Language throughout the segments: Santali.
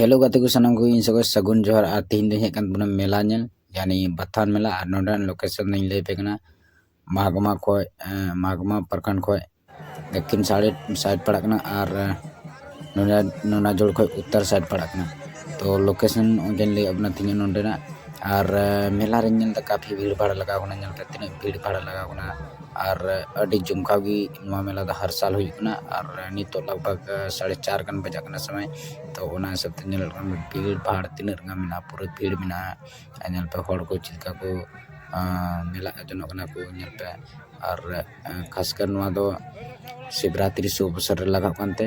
ᱦᱮᱞᱳ ᱜᱟᱛᱮ ᱠᱚ ᱥᱟᱱᱟᱢ ᱠᱚᱜᱮ ᱤᱧ ᱥᱚᱸᱜᱮ ᱥᱟᱹᱜᱩᱱ ᱡᱚᱦᱟᱨ ᱟᱨ ᱛᱮᱦᱮᱧ ᱫᱚᱧ ᱦᱮᱡ ᱠᱟᱱ ᱛᱟᱵᱚᱱᱟ ᱢᱮᱞᱟ ᱧᱮᱞ ᱡᱟᱦᱟᱸ ᱵᱟᱛᱷᱟᱱ ᱢᱮᱞᱟ ᱟᱨ ᱱᱚᱰᱮᱱᱟᱜ ᱞᱳᱠᱮᱥᱚᱱ ᱫᱚᱧ ᱞᱟᱹᱭ ᱟᱯᱮ ᱠᱟᱱᱟ ᱢᱟᱜᱽᱢᱟ ᱠᱷᱚᱡ ᱢᱟᱜᱽᱢᱟ ᱯᱨᱚᱠᱷᱚᱸᱰ ᱠᱷᱚᱡ ᱫᱚᱠᱠᱷᱤᱱ ᱥᱟᱭᱤᱰ ᱥᱟᱭᱤᱰ ᱯᱟᱲᱟᱜ ᱠᱟᱱᱟ ᱟᱨ ᱱᱚᱰᱮ ᱱᱚᱱᱟ ᱡᱳᱲ ᱠᱷᱚᱡ ᱩᱛᱛᱚᱨ ᱥᱟᱭᱤᱰ ᱯᱟᱲᱟᱜ ᱠᱟᱱᱟ ᱛᱚ ᱞᱳᱠᱮᱥᱚᱱ ᱚᱸᱰᱮᱧ ᱞᱟᱹᱭ ᱟᱵᱚᱱᱟ ᱛᱮᱦᱮᱧ ᱱᱚᱰᱮᱱᱟᱜ ᱟᱨ ᱢᱮᱞᱟ ᱨᱤᱧ ᱧᱮᱞ ᱮᱫᱟ ᱠᱟᱯᱷᱤ ᱵᱷᱤᱲ ᱵᱷᱟᱲ ᱞᱟᱜᱟᱣ ᱠᱟᱱᱟ ᱧᱮᱞ ᱯᱮ ᱛᱤᱱᱟᱹᱜ ᱵᱷᱤᱲ ᱵᱷᱟᱲ ᱞᱟᱜᱟᱣ ᱠᱟᱱᱟ ᱟᱨ ᱟᱹᱰᱤ ᱡᱚᱢᱠᱟᱣ ᱜᱮ ᱱᱚᱣᱟ ᱢᱮᱞᱟ ᱫᱚ ᱦᱟᱨ ᱥᱟᱞ ᱦᱩᱭᱩᱜ ᱠᱟᱱᱟ ᱟᱨ ᱱᱤᱛᱚᱜ ᱞᱟᱜᱽ ᱵᱷᱟᱜᱽ ᱥᱟᱲᱮ ᱪᱟᱨ ᱜᱟᱱ ᱵᱟᱡᱟᱜ ᱠᱟᱱᱟ ᱥᱚᱢᱚᱭ ᱛᱚ ᱚᱱᱟ ᱦᱤᱥᱟᱹᱵ ᱛᱮ ᱧᱮᱞᱚᱜ ᱠᱟᱱᱟ ᱵᱷᱤᱲ ᱵᱷᱟᱲ ᱛᱤᱱᱟᱹᱜ ᱜᱟᱱ ᱢᱮᱱᱟᱜᱼᱟ ᱯᱩᱨᱟᱹ ᱵᱷᱤᱲ ᱢᱮᱱᱟᱜᱼᱟ ᱟᱨ ᱧᱮᱞ ᱯᱮ ᱦᱚᱲ ᱠᱚ ᱪᱮᱫ ᱞᱮᱠᱟ ᱠᱚ ᱢᱮᱞᱟ ᱡᱚᱱᱚᱜ ᱠᱟᱱᱟ ᱠᱚ ᱧᱮᱞ ᱯᱮ ᱟᱨ ᱠᱷᱟᱥ ᱠᱟᱨ ᱱᱚᱣᱟ ᱫᱚ ᱥᱤᱵᱽᱨᱟᱛᱨᱤ ᱥᱩᱵ ᱚᱵᱚᱥᱚᱨ ᱨᱮ ᱞᱟᱜᱟᱜ ᱠᱟᱱᱛᱮ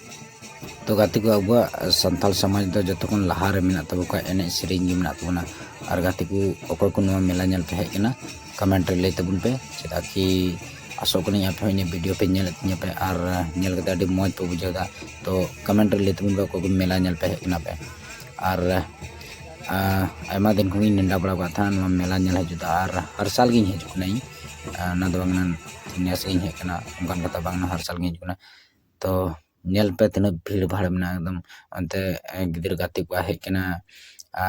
ᱛᱚ ᱜᱟᱛᱮ ᱠᱚ ᱟᱵᱚᱣᱟᱜ ᱥᱟᱱᱛᱟᱲ ᱥᱚᱢᱟᱡᱽ ᱫᱚ ᱡᱚᱛᱚ ᱠᱷᱚᱱ ᱞᱟᱦᱟ ᱨᱮ ᱢᱮᱱᱟᱜ ᱛᱟᱵᱚ ᱠᱷᱟᱱ ᱮᱱᱮᱡ ᱥᱮᱨᱮᱧ ᱜᱮ ᱢᱮᱱᱟᱜ ᱛᱟᱵᱚᱱᱟ ᱟᱨ ᱜᱟᱛᱮ ᱠᱚ ᱚᱠᱚᱭ ᱠᱚ ᱱᱚᱣᱟ ᱢᱮᱞᱟ ᱧᱮᱞ ᱯᱮ ᱦᱮᱡ ᱠᱟᱱᱟ ᱠᱚᱢᱮᱱᱴ ᱨᱮ ᱞᱟᱹᱭ ᱛᱟᱵᱚᱱ ᱯᱮ ᱪᱮᱫᱟᱜ ᱠᱤ ᱟᱥᱚᱜ ᱠᱟᱹᱱᱟᱹᱧ ᱟᱯᱮ ᱦᱚᱸ ᱤᱧᱟᱹᱜ ᱵᱷᱤᱰᱤᱭᱳ ᱯᱮ ᱧᱮᱞᱮᱫ ᱛᱤᱧᱟᱹ ᱯᱮ ᱟᱨ ᱧᱮᱞ ᱠᱟᱛᱮ ᱟᱹᱰᱤ ᱢᱚᱡᱽ ᱯᱮ ᱵᱩᱡᱷᱟᱹᱣ ᱮᱫᱟ ᱛᱚ ᱠᱚᱢᱮᱱᱴ ᱨᱮ ᱞᱟᱹᱭ ᱛᱟᱵᱚᱱ ᱯᱮ ᱚᱠᱚᱭ ᱠᱚ ᱢᱮᱞᱟ ᱧᱮᱞ ᱯᱮ ᱦᱮᱡ ᱠᱟᱱᱟ ᱯᱮ ᱟᱨ ᱟᱭᱢᱟ ᱫᱤᱱ ᱠᱷᱚᱱ ᱤᱧ ᱱᱮᱰᱟ ᱵᱟᱲᱟ ᱟᱠᱟᱫ ᱛᱟᱦᱮᱱᱟ ᱱᱚᱣᱟ ᱢᱮᱞᱟ ᱧᱮᱞ ᱦᱤᱡᱩᱜ ᱫᱚ ᱟᱨ ᱦᱟᱨ ᱥᱟᱞ ᱜᱤᱧ ᱦᱤᱡᱩᱜ ᱠᱟᱱᱟ ᱤᱧ ᱚᱱᱟ ᱫᱚ ᱵᱟᱝ ᱱᱮᱥ ᱜᱤᱧ ᱦᱮᱡ ᱠᱟᱱᱟ ᱚᱱᱠᱟᱱ ᱠᱟᱛᱷᱟ ᱵᱟᱝ ᱦᱟᱨ ᱥᱟᱞ ᱜᱤᱧ ᱦᱤᱡᱩᱜ ᱠᱟᱱᱟ ᱛᱚ ᱧᱮᱞ ᱯᱮ ᱛᱤᱱᱟᱹᱜ ᱵᱷᱤᱲ ᱵᱷᱟᱲ ᱢᱮᱱᱟᱜᱼᱟ ᱮᱠᱫᱚᱢ ᱚᱱᱛᱮ ᱜᱤᱫᱽᱨᱟᱹ ᱜᱟᱛᱮ ᱠᱚ ᱦᱮᱡ ᱠᱟᱱᱟ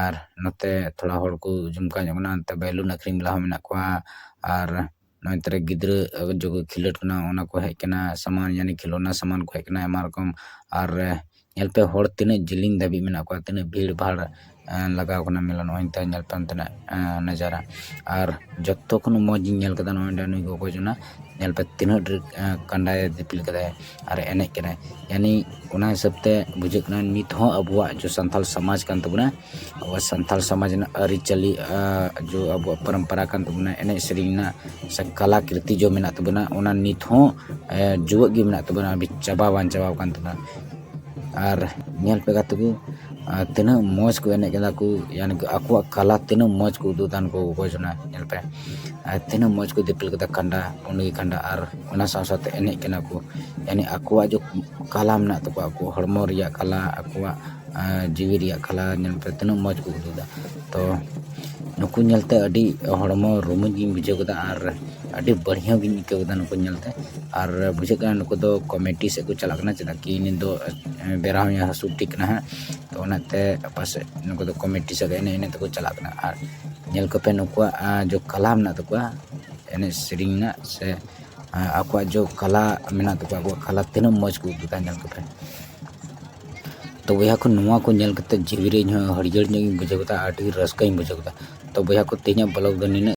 ᱟᱨ ᱱᱚᱛᱮ ᱛᱷᱚᱲᱟ ᱦᱚᱲ ᱠᱚ ᱡᱚᱢᱠᱟᱣ ᱧᱚᱜ ᱠᱟᱱᱟ ᱚᱱᱛᱮ ᱵᱮᱞᱩᱱ ᱟᱹᱠᱷᱨᱤᱧ ᱵᱟᱞᱟ ᱦᱚᱸ ᱢᱮᱱᱟᱜ ᱠᱚᱣᱟ ᱟᱨ ᱱᱚᱛᱮ ᱨᱮ ᱜᱤᱫᱽᱨᱟᱹ ᱡᱚᱠᱷᱚᱱ ᱠᱚ ᱠᱷᱮᱞᱳᱰ ᱠᱟᱱᱟ ᱚᱱᱟ ᱠᱚ ᱦᱮᱡ ᱠᱟᱱᱟ ᱥᱟᱢᱟᱱ ᱡᱟᱱᱤ ᱠᱷᱮᱞᱳᱱᱟ ᱥᱟᱢᱟᱱ ᱠᱚ ᱦᱮᱡ ᱠᱟᱱᱟ ᱟᱭᱢᱟ ᱨᱚᱠᱚᱢ ᱟᱨ ᱧᱮᱞ ᱯᱮ ᱦᱚᱲ ᱛᱤᱱᱟᱹᱜ ᱡᱤᱞᱤᱧ ᱫᱷᱟᱹᱵᱤᱡ ᱢᱮᱱᱟᱜ ᱠᱚᱣᱟ ᱛᱤᱱᱟᱹᱜ ᱵᱷᱤᱲ ᱵᱷᱟᱲ ᱞᱟᱜᱟᱣ ᱠᱟᱱᱟ ᱢᱮᱞᱟ ᱱᱚᱜᱼᱚᱭ ᱱᱮᱛᱟᱨ ᱧᱮᱞ ᱛᱮ ᱚᱱᱛᱮᱱᱟᱜ ᱱᱟᱡᱟᱨᱟ ᱟᱨ ᱡᱚᱛᱚ ᱠᱷᱚᱱ ᱢᱚᱡᱽ ᱤᱧ ᱧᱮᱞ ᱠᱟᱫᱟ ᱱᱚᱜᱼᱚᱭ ᱱᱩᱭ ᱜᱚᱜᱚ ᱡᱚᱱᱟ ᱧᱮᱞ ᱯᱮ ᱛᱤᱱᱟᱹᱜ ᱰᱷᱮᱨ ᱠᱟᱸᱰᱟᱭ ᱫᱤᱯᱤᱞ ᱠᱟᱫᱟᱭ ᱟᱨᱮ ᱮᱱᱮᱡ ᱠᱟᱱᱟᱭ ᱡᱟᱱᱤ ᱚᱱᱟ ᱦᱤᱥᱟᱹᱵ ᱛᱮ ᱵᱩᱡᱷᱟᱹᱜ ᱠᱟᱱᱟ ᱱᱤᱛ ᱦᱚᱸ ᱟᱵᱚᱣᱟᱜ ᱡᱮ ᱥᱟᱱᱛᱟᱲ ᱥᱚᱢᱟᱡᱽ ᱠᱟᱱ ᱛᱟᱵᱚᱱᱟ ᱟᱵᱚᱣᱟᱜ ᱥᱟᱱᱛᱟᱲ ᱥᱚᱢᱟᱡᱽ ᱨᱮᱱᱟᱜ ᱟᱹᱨᱤᱪᱟᱹᱞᱤ ᱡᱮ ᱟᱵᱚᱣᱟᱜ ᱯᱚᱨᱚᱢᱯᱚᱨᱟ ᱠᱟᱱ ᱛᱟᱵᱚᱱᱟ ᱮᱱᱮᱡ ᱥᱮᱨᱮᱧ ᱨᱮᱱᱟᱜ ᱥᱮ ᱠᱟᱞᱟ ᱠᱨᱤᱛᱤ ᱡᱮ ᱢᱮᱱᱟᱜ ᱛᱟᱵᱚᱱᱟ ᱚᱱᱟ ᱱᱤᱛ ᱦᱚᱸ ᱡᱮᱣᱮᱫ ᱜᱮ ᱢᱮᱱᱟᱜ ᱛᱟᱵᱚᱱᱟ ᱪᱟᱵᱟ ᱵᱟᱝ ᱪᱟᱵᱟᱣ ᱠᱟᱱ ᱛᱟᱵᱚᱱᱟ ᱟᱨ ᱧᱮᱞ ᱯᱮ ᱜᱟᱛᱮ ᱠᱚ ᱟᱨ ᱛᱤᱱᱟᱹᱜ ᱢᱚᱡᱽ ᱠᱚ ᱮᱱᱮᱡ ᱠᱟᱱᱟ ᱠᱚ ᱭᱟᱱᱤ ᱠᱤ ᱟᱠᱚᱣᱟᱜ ᱠᱟᱞᱟ ᱛᱤᱱᱟᱹᱜ ᱢᱚᱡᱽ ᱠᱚ ᱩᱫᱩᱜ ᱮᱫᱟ ᱩᱱᱠᱩ ᱚᱠᱚᱭ ᱡᱚᱱᱟ ᱧᱮᱞ ᱯᱮ ᱟᱨ ᱛᱤᱱᱟᱹᱜ ᱢᱚᱡᱽ ᱠᱚ ᱫᱤᱯᱤᱞ ᱠᱟᱫᱟ ᱠᱟᱸᱰᱟ ᱩᱱᱤ ᱠᱟᱸᱰᱟ ᱟᱨ ᱚᱱᱟ ᱥᱟᱶ ᱥᱟᱶᱛᱮ ᱮᱱᱮᱡ ᱠᱟᱱᱟ ᱠᱚ ᱭᱟᱱᱤ ᱟᱠᱚᱣᱟᱜ ᱡᱮ ᱠᱟᱞᱟ ᱢᱮᱱᱟᱜ ᱛᱟᱠᱚᱣᱟ ᱟᱠᱚᱣᱟᱜ ᱦᱚᱲᱢᱚ ᱨᱮᱭᱟᱜ ᱠᱟᱞᱟ ᱟᱠᱚᱣᱟᱜ ᱡᱤᱣᱤ ᱨᱮᱭᱟᱜ ᱠᱟᱞᱟ ᱧᱮᱞ ᱯᱮ ᱛᱤᱱᱟᱹᱜ ᱢᱚᱡᱽ ᱠᱚ ᱩᱫᱩᱜ ᱮᱫᱟ ᱛᱚ ᱱᱩᱠᱩ ᱧᱮᱞᱛᱮ ᱟᱹᱰᱤ ᱦᱚᱲᱢᱚ ᱨᱩᱢᱩᱧ ᱜᱤᱧ ᱵᱩᱡᱷᱟᱹᱣ ᱠᱮᱫᱟ ᱟᱨ ᱟᱹᱰᱤ ᱵᱟᱹᱲᱦᱭᱟᱹ ᱜᱤᱧ ᱟᱹᱭᱠᱟᱹᱣ ᱠᱮᱫᱟ ᱱᱩᱠᱩ ᱧᱮᱞᱛᱮ ᱟᱨ ᱵᱩᱡᱷᱟᱹᱜ ᱠᱟᱱᱟ ᱱᱩᱠᱩ ᱫᱚ ᱠᱚᱢᱮᱰᱤ ᱥᱮᱫ ᱠᱚ ᱪᱟᱞᱟᱜ ᱠᱟᱱᱟ ᱪᱮᱫᱟᱜ ᱠᱤ ᱱᱤᱛ ᱫᱚ ᱵᱮᱨᱟ ᱦᱚᱸᱭ ᱦᱟᱹᱥᱩᱨ ᱴᱷᱤᱠ ᱠᱟᱱᱟ ᱦᱟᱸᱜ ᱛᱚ ᱚᱱᱟᱛᱮ ᱯᱟᱥᱮᱡ ᱱᱩᱠᱩ ᱫᱚ ᱠᱚᱢᱮᱰᱤ ᱥᱮᱫ ᱮᱱᱮᱡ ᱮᱱᱮᱡ ᱛᱮᱠᱚ ᱪᱟᱞᱟᱜ ᱠᱟᱱᱟ ᱟᱨ ᱧᱮᱞ ᱠᱚᱯᱮ ᱱᱩᱠᱩᱣᱟᱜ ᱡᱮ ᱠᱟᱞᱟ ᱢᱮᱱᱟᱜ ᱛᱟᱠᱚᱣᱟ ᱮᱱᱮᱡ ᱥᱮᱨᱮᱧ ᱨᱮᱱᱟᱜ ᱥᱮ ᱟᱠᱚᱣᱟᱜ ᱡᱮ ᱠᱟᱞᱟ ᱢᱮᱱᱟᱜ ᱛᱟᱠᱚᱣᱟ ᱟᱠᱚᱣᱟᱜ ᱠᱟᱞᱟ ᱛᱤᱱᱟᱹᱜ ᱢᱚᱡᱽ ᱠᱚ ᱩᱫᱩᱜ ᱮᱫᱟ ᱧᱮᱞ ᱠᱚᱯᱮ ᱛᱚ ᱵᱚᱭᱦᱟ ᱠᱚ ᱱᱚᱣᱟ ᱠᱚ ᱧᱮᱞ ᱠᱟᱛᱮ ᱡᱤᱣᱤ ᱨᱮ ᱤᱧ ᱦᱚᱸ ᱦᱟᱹᱨᱭᱟᱹᱲ ᱧᱚᱜ ᱤᱧ ᱵᱩᱡᱷᱟᱹᱣ ᱠᱮᱫᱟ ᱟᱹᱰᱤ ᱨᱟᱹᱥᱠᱟᱹᱧ ᱵᱩᱡᱷᱟᱹᱣ ᱠᱮᱫᱟ ᱛᱚ ᱵᱚᱭᱦᱟ ᱠᱚ ᱛᱮᱦᱮᱧᱟᱜ ᱵᱞᱚᱜᱽ ᱫᱚ ᱱᱤᱱᱟᱹᱜ